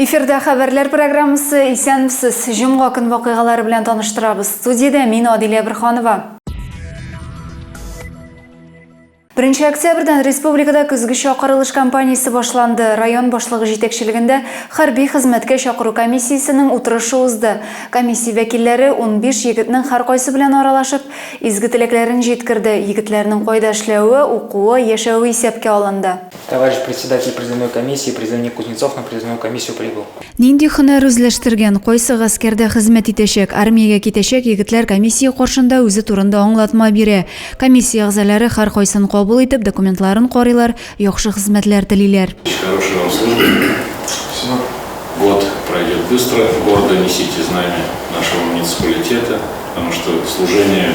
Эфирда хәбәрләр программасы Исәнмесез. Җомга көн вакыйгалары белән таныштырабыз. Студиядә мин Адилә Бирханова. Беренче октябрьдән республикада көзге чакырылыш кампаниясе башланды. Район башлыгы җитәкчелегендә хәрби хезмәткә чакыру комиссиясенең утырышы узды. Комиссия вәкилләре 15 егетнең һәркайсы белән аралашып, изге теләкләрен җиткерде, егетләрнең кайда эшләве, укуы, яшәве исәпкә алынды. Товарищ Председатель призывной комиссии, призывник Кузнецов на призывную комиссию прибыл. Нинди һөнәр үзләштергән, кайсы гаскәрдә хезмәт итәчәк, армиягә китәчәк егетләр комиссия каршында үзе турында аңлатма бирә. Комиссия әгъзалары һәркайсын кабул итеп, документларын карыйлар, яхшы хезмәтләр телиләр. Хорошего вам служения. Спасибо. Год пройдет быстро, гордо несите знамя нашего муниципалитета, потому что служение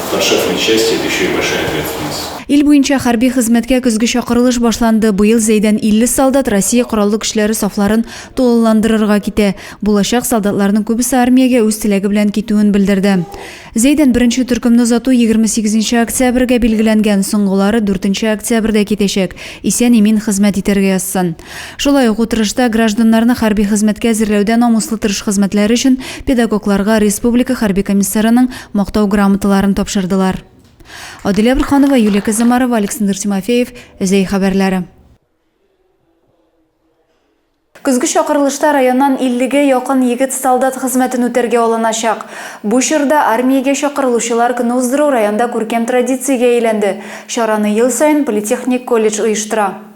в подшефной части это еще и большая ответственность. Ил буенча хәрби хезмәткә көзге чакырылыш башланды. Быел Зәйдән 50 солдат Россия Кораллы Көчләре сафларын тулыландырырга китә. Булачак солдатларның күбесе армиягә үз теләге белән китүен белдерде. Зәйдән беренче төркемне озату 28 нче октябрьгә билгеләнгән, соңгылары 4 нче октябрьдә китәчәк, исән-имин хезмәт итәргә язсын. Шулай ук утырышта гражданнарны хәрби хезмәткә әзерләүдә намуслы тырыш хезмәтләре өчен педагогларга республика хәрби комиссарының Мактау грамоталарын тапшырдылар. Адилә Бурханова, Юлия Казамарова, Александр Тимофеев, Зәй хәбәрләре. Көзге чакырылышта районнан 50-гә якын егет солдат хезмәтен үтәргә алыначак. Бу чорда армиягә чакырылучылар көне уздыру районда күркәм традициягә әйләнде. Чараны ел саен политехник колледж оештыра.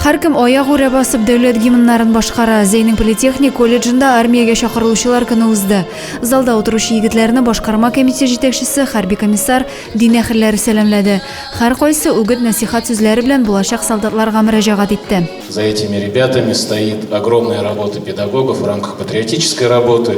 Һәркем аяк үрә басып дәүләт гимннарын башкара. Зәйнең политехник колледжында армиягә чакырылучылар көне узды. Залда утыручы егетләрне башкарма комиссия җитәкчесе, хәрби комиссар, дин әһелләре сәламләде. Һәркайсы үгет-нәсихат сүзләре белән булачак солдатларга мөрәҗәгать итте. За этими ребятами стоит огромная работа педагогов в рамках патриотической работы.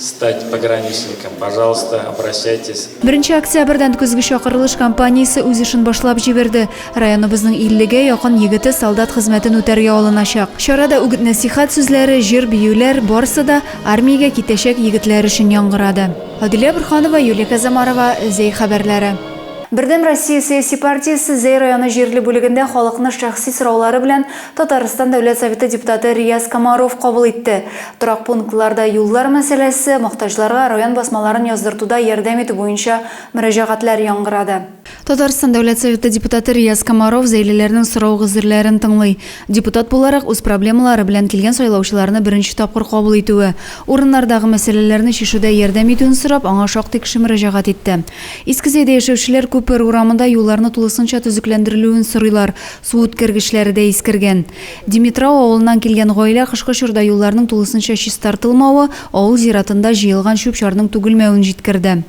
стать пограничником, пожалуйста, обращайтесь. Беренче октябрьдән көзге чакырылыш компаниясе үз эшен башлап җибәрде. Районыбызның 50-гә якын егете солдат хезмәтен үтәргә алыначак. Чарада үгет-нәсихәт сүзләре, җыр, биюләр, барсы да армиягә китәчәк егетләр өчен яңгырады. Адилә Борханова, Юлия Казамарова, Зәй хәбәрләре. Бердәм Россия сәяси партиясе Зәй районы җирле бүлегендә халыкны шәхси сораулары белән Татарстан Дәүләт Советы депутаты Рияз Комаров кабул итте. Торак пунктларда юллар мәсьәләсе, мохтаҗларга район басмаларын яздыртуда ярдәм итү буенча мөрәҗәгатьләр яңгырады. Татарстан Дәүләт Советы депутаты Рияз Комаров зәйлеләрнең сорау-гозерләрен тыңлый. Депутат буларак үз проблемалары белән килгән сайлаучыларны беренче тапкыр кабул итүе, урыннардагы мәсьәләләрне чишүдә ярдәм итүен сорап, аңа шактый кеше мөрәҗәгать итте. Искезәйдә яшәүчеләр Күпер урамында юлларны тулысынча төзекләндерелүен сорыйлар. Су үткәргечләре дә искергән. Димитрау авылыннан килгән гаилә кышкы чорда юлларның тулысынча чистартылмавы, авыл зиратында җыелган чүп-чарның түгелмәвен җиткерде.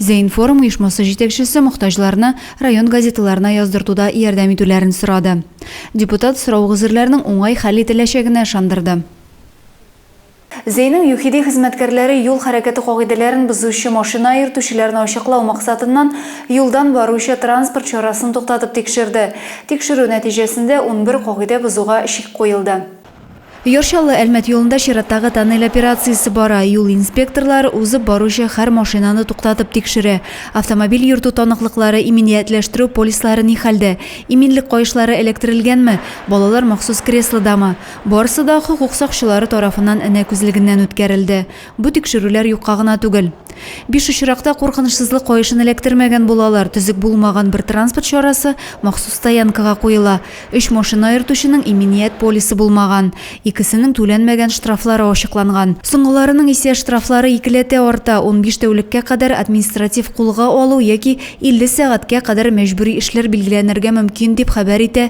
Зәинформ оешмасы җитәкчесе мохтаҗларны район газеталарына яздыртуда ярдәм итүләрен сорады. Депутат сорау гозерләрнең уңай хәл ителәчәгенә ышандырды. Зәйнең ЮХИДИ хезмәткәрләре юл хәрәкәте кагыйдәләрен бозучы машина йөртүчеләрне ачыклау максатыннан юлдан баручы транспорт чарасын туктатып тикшерде. Тикшерү нәтиҗәсендә унбер кагыйдә бозуга чик куелды. Яр Чаллы, Әлмәт юлында чираттагы тоннель операциясе бара. Юл инспекторлары узып баручы хәр машинаны туктатып тикшерә. Автомобиль йөртү таныклыклары, иминиятләштерү полислары ни хәлдә? Иминлек каешлары эләктерелгәнме? Балалар махсус креслодамы? Барысы да хокук сакчылары тарафыннан энә күзлегеннән үткәрелде. Бу тикшерүләр юкка гына түгел. Биш очракта куркынычсызлык каешын эләктермәгән булалар, төзек булмаган бер транспорт чарасы махсус стоянкага куела, өч машина йөртүченең иминият полисы булмаган, икесенең түләнмәгән штрафлары ачыкланган. Соңгыларының исә штрафлары икеләтә арта, унбиш тәүлеккә кадәр административ кулга алу яки илле сәгатькә кадәр мәҗбүри эшләр билгеләнергә мөмкин, дип хәбәр итә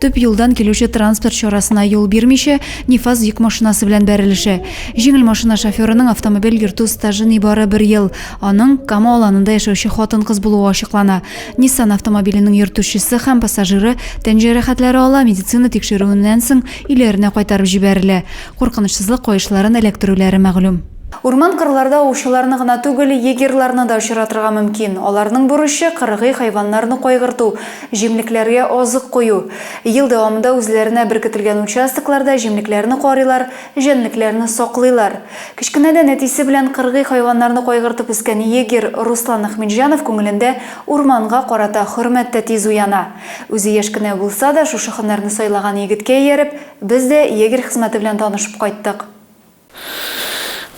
Төп юлдан килүче транспорт чарасына юл бирмичә, Нифас йөк машинасы белән бәрелешә. Җиңел машина шоферының автомобиль йөртү стажы нибары бер ел. Аның Кама Аланында яшәүче хатын-кыз булуы ачыклана. Nissan автомобиленең йөртүчесе һәм пассажиры тән җәрәхәтләре ала, медицина тикшерүеннән соң өйләренә кайтарып җибәрелә. Куркынычсызлык каешларын эләктерүләре мәгълүм. Урман-кырларда аучыларны гына түгел, егерьларны да очратырга мөмкин. Аларның бурычы, кыргый хайваннарны кайгырту, җимлекләргә азык кую. Ел дәвамында үзләренә беркетелгән участокларда җимлекләрне карыйлар, җәнлекләрне саклыйлар. Кечкенәдән әтисе белән кыргый хайваннарны кайгыртып үскән егерь Руслан Әхмитҗанов күңелендә урманга карата хөрмәт тә тиз уяна. Үзе яшь кенә булса да, шушы һөнәрне сайлаган егеткә ияреп, без дә егерь хезмәте белән танышып кайттык.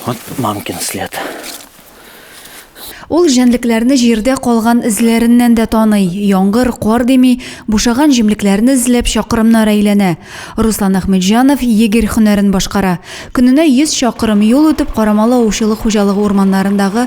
Вот мамкин след. Ул җәнлекләрне җирдә калган эзләреннән дә таный, яңгыр, кар дими, бушаган җимлекләрне эзләп чакырымнар әйләнә. Руслан Әхмәтҗанов егерь һөнәрен башкара. Көненә 100 чакырым юл үтеп, Карамалы аучылык хуҗалыгы урманнарындагы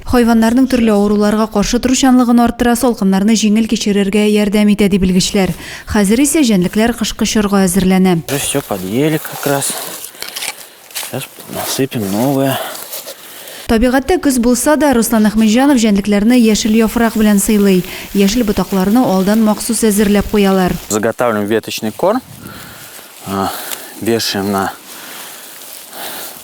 Хайваннарның төрле авыруларга каршы торучанлыгын арттыра, салкыннарны җиңел кичерергә ярдәм итә, ди белгечләр. Хәзер исә җәнлекләр кышкы чорга әзерләнә. Уже все подъели как раз. Сейчас насыпем новое. Табигатьтә көз булса да, Руслан Әхмәтҗанов җәнлекләрне яшел яфрак белән сыйлый. Яшел ботакларны алдан махсус әзерләп куялар. Заготавливаем веточный корм, вешаем на.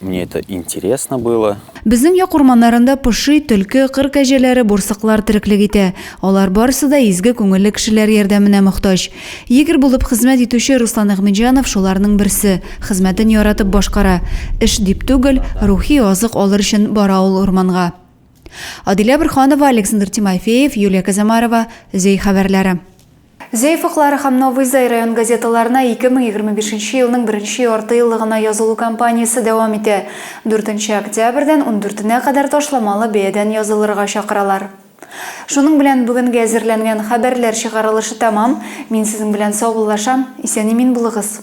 Мне это интересно было. Безнең як урманнарында поши, төлке, кыр кәҗәләре, бурсыклар тереклек итә. Алар барысы да изге күңелле кешеләр ярдәменә мохтаҗ. Егерь булып хезмәт итүче Руслан Әхмәтҗанов шуларның берсе, хезмәтен яратып башкара. Эш дип түгел, рухи азык алыр өчен бара ул урманга. Адилә Борһанова, Александр Тимофеев, Юлия Казамарова, Зөй хәбәрләре. Зәй фыклары һәм Новый Зай район газеталарына 2025 нче елның беренче яртыеллыгына язылу кампаниясе дәвам итә. Дүртенче октябрьдән ундүртенә кадәр ташламалы бәядән язылырга чакыралар. Шуның белән бүгенге әзерләнгән хәбәрләр чыгарылышы тәмам. Мин сезнең белән саубуллашам. Исән-имин булыгыз!